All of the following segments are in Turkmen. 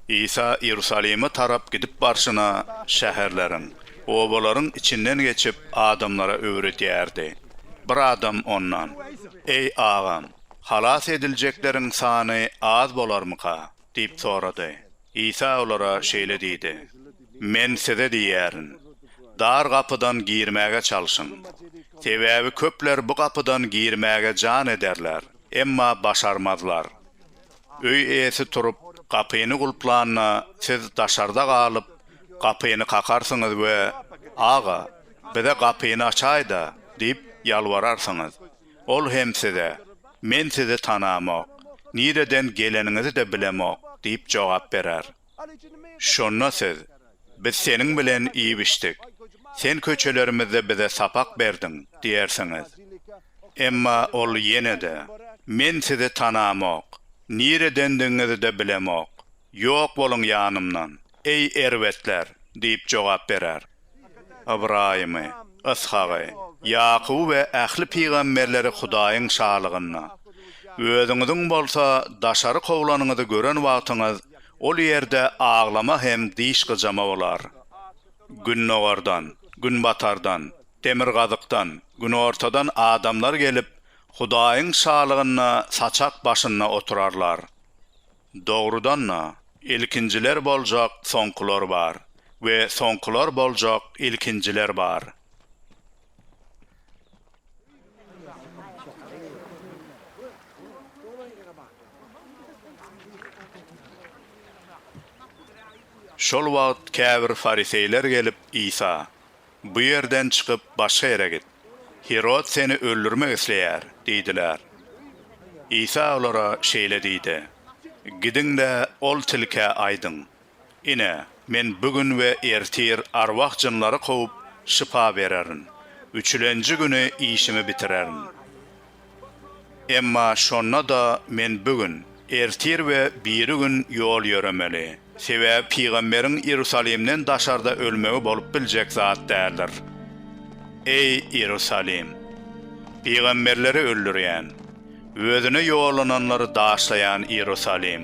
Isa Iýerusalime tarap gidip barşyna, şäherleriň, obalaryň içinden geçip, adamlara öwredýärdi. Bir adam Ondan, Eý, Agam, halas ediljekleriň sany az bolarmyka? diýip sorady. Isa olara şeýle diýdi, Men size diýýärin, dar gapydan girmäge çalşyň. Sebäbi köpler bu gapydan girmäge jan ederler, emma başarmazlar. Öý eýesi turup, gapyny gulplanda, siz daşarda galyp, gapyny kakarsyňyz we, Aga, bize gapyny açaý-da! diýip ýalbararsyňyz. Ol hem size, Men sizi tanamok, nireden geleniňizi-de bilemok diýip jogap berer. Şonda siz, Biz seniň bilen iýip-içdik, sen köçelerimizde bize sapak berdiň diýersiňiz. Emma ol ýene-de, Men sizi tanamok, niredendigiňizi-de bilemok. Ýok boluň ýanymdan, eý, erbetler! diýip jogap berer. Ybraýymy, Yshagy, Ýakuby we ähli pygamberleri Hudaýyň Şalygynda, özüňiziň bolsa daşary kowlanyňyzy gören wagtyňyz, ol ýerde aglama hem diş gyjama bolar. Gündogardan, günbatardan, Demirgazykdan, günortadan adamlar gelip, Hudaýyň Şalygynda saçak başynda oturarlar. Dogrudan-da, ilkinjiler boljak, soňkular bar we soňkular boljak, ilkinjiler bar. Şol wagt käbir fariseýler gelip, Isa, Bu ýerden çykyp, başga ýere git. Hirod seni öldürmek isleýär diýdiler. Isa olara şeýle diýdi, Gidiň-de, ol tilkä aýdyň, Ine, men bu gün we ertir arwah jynlary kowup, şypa bererin, üçülenji güni işimi bitirerin. Emma şonda-da men bu gün, ertir we biri gün ýol ýöremeli. Sebäbi pygamberiň Iýerusalimden daşarda ölmegi bolup biljek zat däldir. Eý, Iýerusalim! Pygamberleri öldürýän, Özüne ýollananlary daşlaýan Iýerusalim!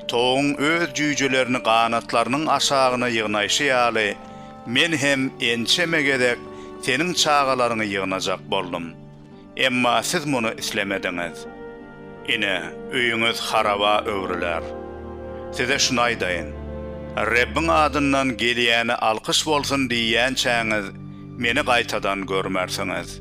Towugyň öz jüýjelerini ganatlarynyň aşagyna ýygnaýşy ýaly, Men hem ençeme gezek seniň çagalaryňy ýygnajak boldum. Emma siz muny islemediňiz. Ine, öýüňiz haraba öwrüler. Size şuny aýdaýyn, Rebbiň adyndan gelýäne alkyş bolsun diýýänçäňiz, Meni gaýtadan görmersiňiz.